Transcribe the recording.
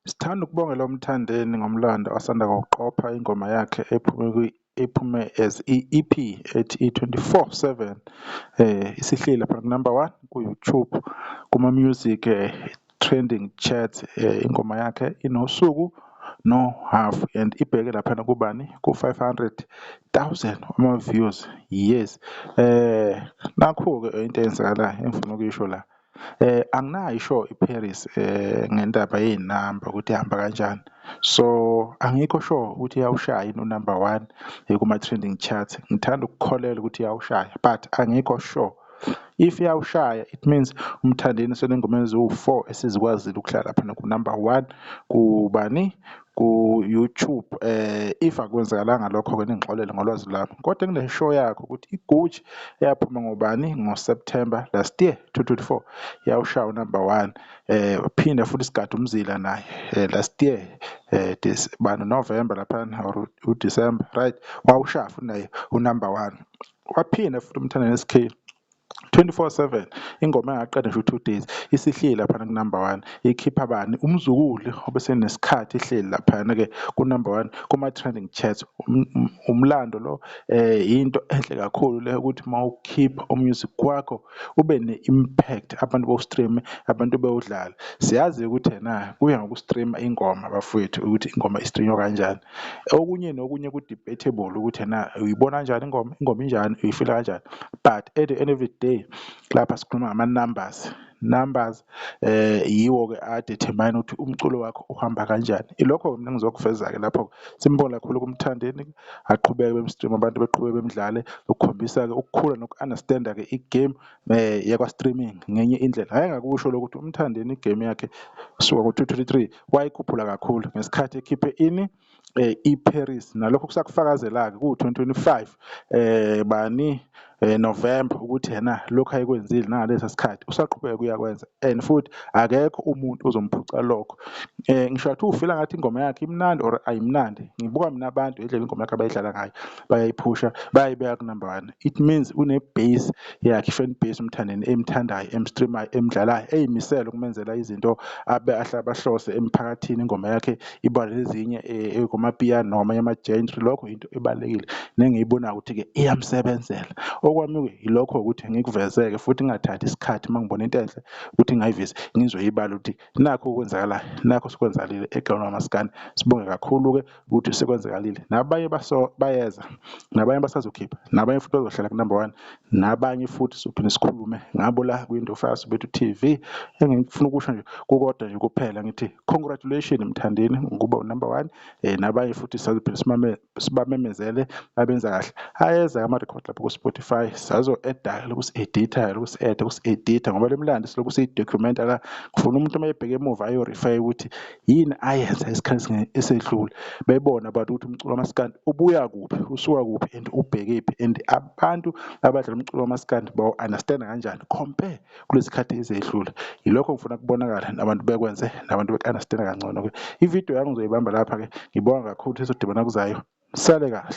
Sithanda ukubongela uMthandeni ngomlando asanda kuwuqopha ingoma yakhe ephume kwi ephume as i-EP ethi i-24/7 eh isihleli lapha number 1 ku-YouTube kuma music eh, trending chats eh, ingoma yakhe inosuku no half and ibheke laphana kubani ku 500,000 ama views yes eh nakho ke into eyenzakalayo engifuna ukuyisho la eh anginayo isho iParis eh ngendaba yezinamba ukuthi ihamba kanjani so angikho sure ukuthi yawushaya ino number 1 kuma trending charts ngithanda ukukholela ukuthi yawushaya but angikho sure If iyawushaya it means umthandeni senengoma eziwu-four esizikwazile ukuhlala phana ku-number one kubani ku-YouTube eh if akwenzakalanga lokho-ke ningixolele ngolwazi lwami kodwa engineshow yakho ukuthi iguji eyaphuma ngobani ngo-September last year 2024 yawushaya unumber one eh phinde futhi sigade umzila naye eh, last year eh this bani November lapha or uDecember right wawushaya futhi naye unumber one Waphinde futhi uMthandeni SK 24/7 ingoma engaqeda nje u-two days isihleli laphana ku-number one ikhipha bani umzukulu obesenesikhathi ihleli laphana-ke ku-number one kuma-trending chats um-, um-, umlando lo um yinto enhle kakhulu le ukuthi uma ukhipha umusic wakho ube ne-impact abantu bowustreame abantu bewudlale siyazi ukuthi ena kuya ngokustreama ingoma bafowethu ukuthi ingoma istreanywa kanjani okunye nokunye ku-debatable ukuthi ena uyibona kanjani ingoma ingoma injani uyifila kanjani but at the end of the day lapha sikhuluma ngama-numbers numbers eh yiwo-ke adetermine ukuthi umculo wakho uhamba kanjani ilokho-ke mina ngizokuveza-ke lapho-ke simbonge kakhulu kumthandeni aqhubeke bemstream abantu beqhubeke bemdlale ukukhombisa-ke ukukhula noku-understanda-ke igame um eh, yakwa-streaming ngenye indlela hhayi ngakusho lokho ukuthi umthandeni igame yakhe suka ngo-two twenty three wayikhuphula kakhulu ngesikhathi ekhiphe ini eh, iParis nalokho kusakufakazela-ke kuwu-2025 eh, bani eh, November ukuthi yena lokho ayekwenzile nangalesa sikhathi usaqhubeka kuyakwenza and futhi akekho umuntu ozomphuca lokho eh, ngisho athi ufila ngathi ingoma yakhe imnandi or ayimnandi ngibuka mina abantu indlela ingoma yakhe abayidlala ngayo bayayiphusha bayayibeka kunumber one It means une base yakhe fan base umthandeni emthandayo emstreamayo emdlalayo eyimisele ukumenzela izinto abe ahle abahlose emphakathini ingoma yakhe iba nezinye eh, ekomapiyano namanye ama-genre lokho into ebalulekile nengiyibonayo ukuthi-ke iyamsebenzela okwami-ke yilokho ukuthi ngikuvezeke futhi ngingathathi isikhathi uma ngibona into enhle ukuthi ngayivise ngizoyibala ukuthi nakho okwenzakalayo nakho sikwenzakalile eGlown Maskandi sibonge kakhulu-ke ukuthi sekwenzekalile nabanye baso bayeza nabanye basazokhipha nabanye futhi bazohlala kunumber one nabanye futhi sophinde sikhulume ngabo la kwindo fast bethu TV engifuna ukusho nje kukodwa nje kuphela ngithi congratulations mthandeni ngokuba unumber one eh nabanye futhi sazophinde simame sibamemezele abenza kahle ayeza ama record lapho ku Spotify sazo edda lokusi edita lokusi edda lokusi edita ngoba lemlandi silokusi document la ngifuna umuntu uma ebheke emuva ayo refer ukuthi yini ayenza esikhathini esedlule bebona abantu ukuthi umculo kamaskandi ubuya kuphi usuka kuphi and ubhekephi and abantu abadlala umculo kamaskandi bawu-understanda kanjani compare kulezi khathi ezedlule yilokho ngifuna kubonakala nabantu bekwenze nabantu beku-understanda kangcono ke ividiyo yami ngizoyibamba lapha-ke ngibonga kakhulu sizodibana kuzayo sale kahle